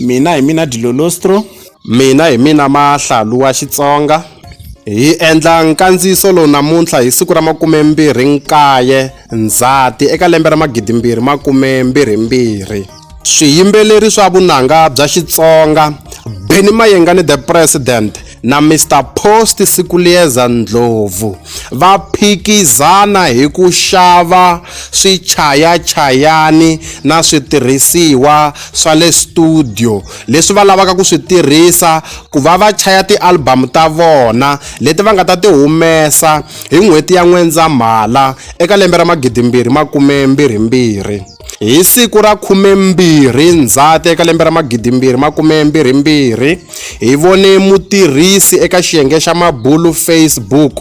Mina hi mina Dilolostro. Mina hi mina Mahlalu wa Xitsonga. Hi endla nkandziyiso lowu namuntlha hi siku ra makumembirhi nkaye Ndzhati eka lembe ra magidimbirhi makumembirhi mbirhi. Swiyimbeleri swa vunanga bya Xitsonga, Benny Mayengani The President, na Mr Post Sikuliyeza Ndlovu va phikizana hi ku xava swichayachayani na switirhisiwa swa le studio leswi va lavaka ku swi tirhisa ku va va chaya ti-album ta vona leti va nga ta ti humesa hi n'hweti ya N'wendzamhala eka lembe ra magidimbirhi makume mbirhi mbirhi. Hi siku ra 12 Ndzhati eka lembe ra 2022, hi vone mutirhisi eka xiyenge xa mabulo Facebook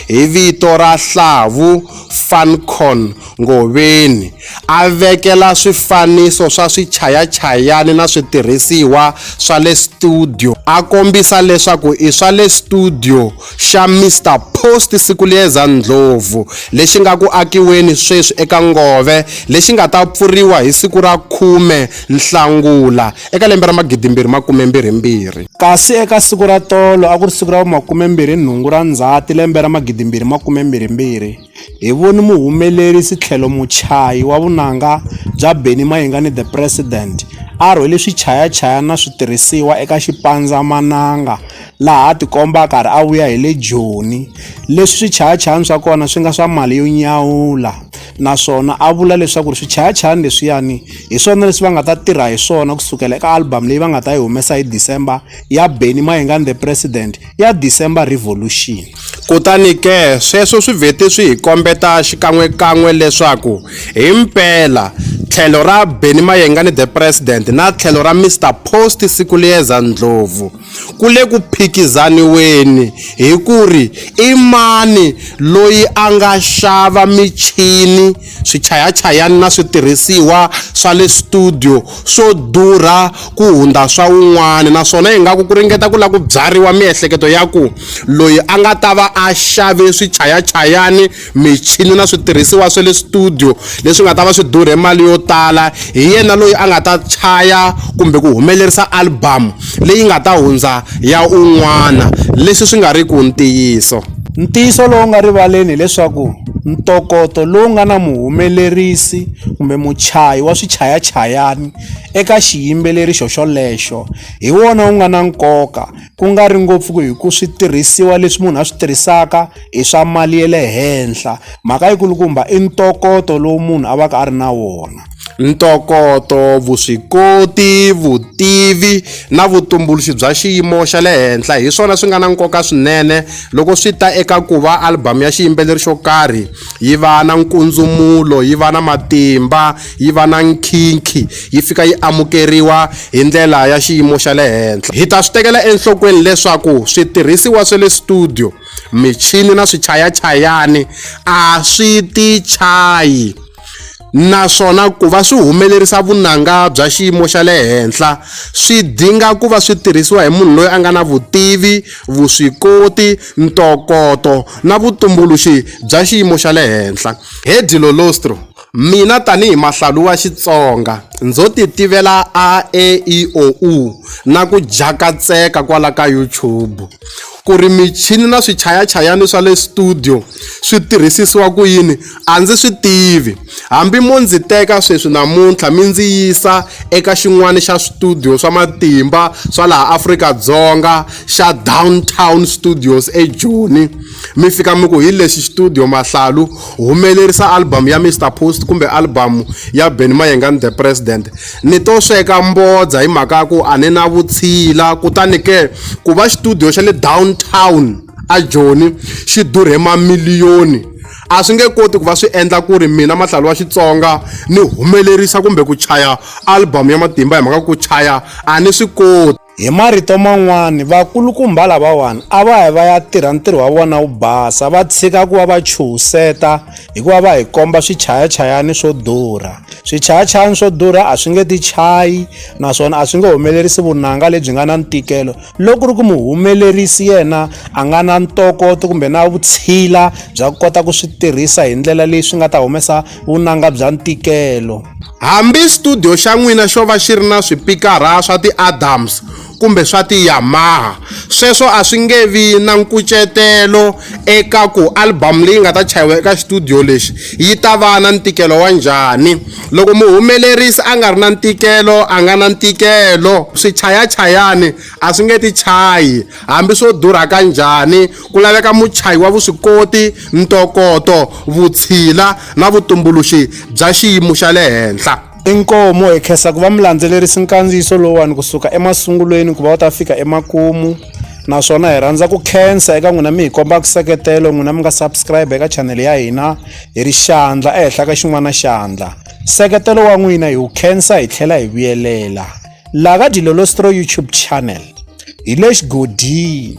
hi vito ra Hlavu Funcon Ngoveni a vekela swifaniso swa swichayachayani na switirhisiwa swa le studio a kombisa leswaku i swa le studio. xa Mister Post Sikulieza Ndlovu lexi nga ku akiweni sweswi eka Ngove lexi nga ta pfuriwa hi siku ra 10 Nhlangula eka lembe ra 2022. Kasi eka siku ra tolo a ku ri siku ra vu 28 ra Ndzhati lembe ra 2022, Hi voni muhumelerisi tlhelo muchayi wa vunanga bya Bennie Mayengani The President a rhwele swichayachayana na switirhisiwa eka xipandzamananga laha a tikomba a karhi a vuya hi le Joni leswi swichayachayana swa kona swi nga swa mali yo nyawula naswona a vula leswaku ri swichayachayana leswiyani hi swona leswi va nga ta tirha hi swona kusukela eka album leyi va nga ta yi humesa hi December ya Bennie Mayengani The President. ya December Revolution. Kutani ke, sweswo swi vheti swi hi kombeta xikan'we-kan'we leswaku hi mpela tlhelo ra Benny Mayengani the President na tlhelo ra Mister Post Sikuliyeza Ndlovu ku le ku phikizaniweni hi ku ri i mani loyi a nga xava michini swichayachayani na switirhisiwa swa le studio swo durha ku hundza swa un'wana naswona ingaku ku ringeta ku lava ku byariwa miehleketo ya ku loyi a nga ta va a xave swichayachayani michini na switirhisiwa swa le studio leswi nga ta va swi durhe mali yo tala hi yena loyi a nga ta chaya kumbe ku humelerisa album leyi nga ta hundza ya un'wana leswi swi nga riki ntiyiso. Ntiyiso lowu nga rivaleni hileswaku ntokoto lowu nga na muhumelerisi kumbe muchayi wa swichayachayani eka xiyimbeleri xoxolexo hi wona wu nga na nkoka ku nga ri ngopfu hi ku switirhisiwa leswi munhu a swi tirhisaka. i swa mali ya le henhla mhaka yi kulukumba i ntokoto lowu munhu a va ka a ri na wona ntokoto vuswikoti vutivi na vutumbuluxi bya xiyimo xa le henhla hi swona swi nga na nkoka swinene loko swi ta eka ku va album ya xiyimbeleri xo karhi yi va na nkundzumulo yi va na matimba yi va na nkhinkhi yi fika yi amukeriwa hi ndlela ya xiyimo xa le henhla hi ta swi tekela enhlokweni leswaku switirhisiwa swa le studio michini na swichayachayani a swi ti chayi naswona ku va swi humelerisa vunanga bya xiyimo xa le henhla swi dinga ku va swi tirhisiwa hi munhu loyi a nga na vutivi vuswikoti ntokoto na vutumbuluxi bya xiyimo xa le henhla hedi lolostro Mina tanihi mahlalu wa Xitsonga ndzo ti tivela a e i o u na ku jakatseka kwala ka YouTube ku ri michini na swichayachayani swa le studio swi tirhisisiwa ku yini a ndzi swi tivi hambi mo ndzi teka sweswi namuntlha mi ndzi yisa eka xin'wana xa studio swa matimba swa laha Afrika-Dzonga xa Downtown Studios eJoni mi fika mi ku hi lexi studio mahlalu humelerisa album ya Mr Post kumbe album ya Benny Mayenga and the President ni to sweka mbodza hi mhaka ku a ni na vutshila kutani ke ku va studio xa le downtown a Joni xi durhe mamiliyoni a swi nge koti ku va swi endla ku ri mina mahlalo wa Xitsonga ni humelerisa kumbe ku chaya album ya matimba hi mhaka ku chaya a ni swi koti Hi marito man'wana vakulukumba lavawani a va hi va ya tirha ntirho wa vona wu basa va tshika ku va va chuhiseta hikuva va hi komba swichayachayani swo durha swichayachayani swo durha a swi nge ti chayi naswona a swi nge humelerisi vunanga lebyi nga na ntikelo loko ri ku muhumelerisi yena a nga na ntokoto kumbe na vutshila bya ku kota ku swi tirhisa hi ndlela leyi swi nga ta humesa vunanga bya ntikelo. Hambi xitudiyo xa n'wina xo va xi ri na swipikara swa ti-Adams kumbe swa ti-Yamaha, sweswo a swi nge vi na nkucetelo eka ku album leyi nga ta chayiwa eka xitudiyo lexi yi ta va na ntikelo wa njhani. Loko muhumelerisi a nga ri na ntikelo a nga na ntikelo. Swichayachayani a swi nge ti chayi hambi swo durha ka njhani Ku laveka muchayi wa vuswikoti, ntokoto, vutshila na vutumbuluxi bya xiyimo xa le henhla. Inkomu hi khensa ku va mi landzelerisi nkandziyiso lowuwani kusuka emasungulweni ku va wu ta fika emakumu naswona hi rhandza ku khensa eka n'wina mi hi komba nseketelo n'wina mi nga subscribe eka chanele ya hina hi ri xandla ehenhla ka xin'wana xandla nseketelo wa n'wina hi wu khensa hi tlhela hi vuyelela laha ka dilolostro youtube channel hi le xigodini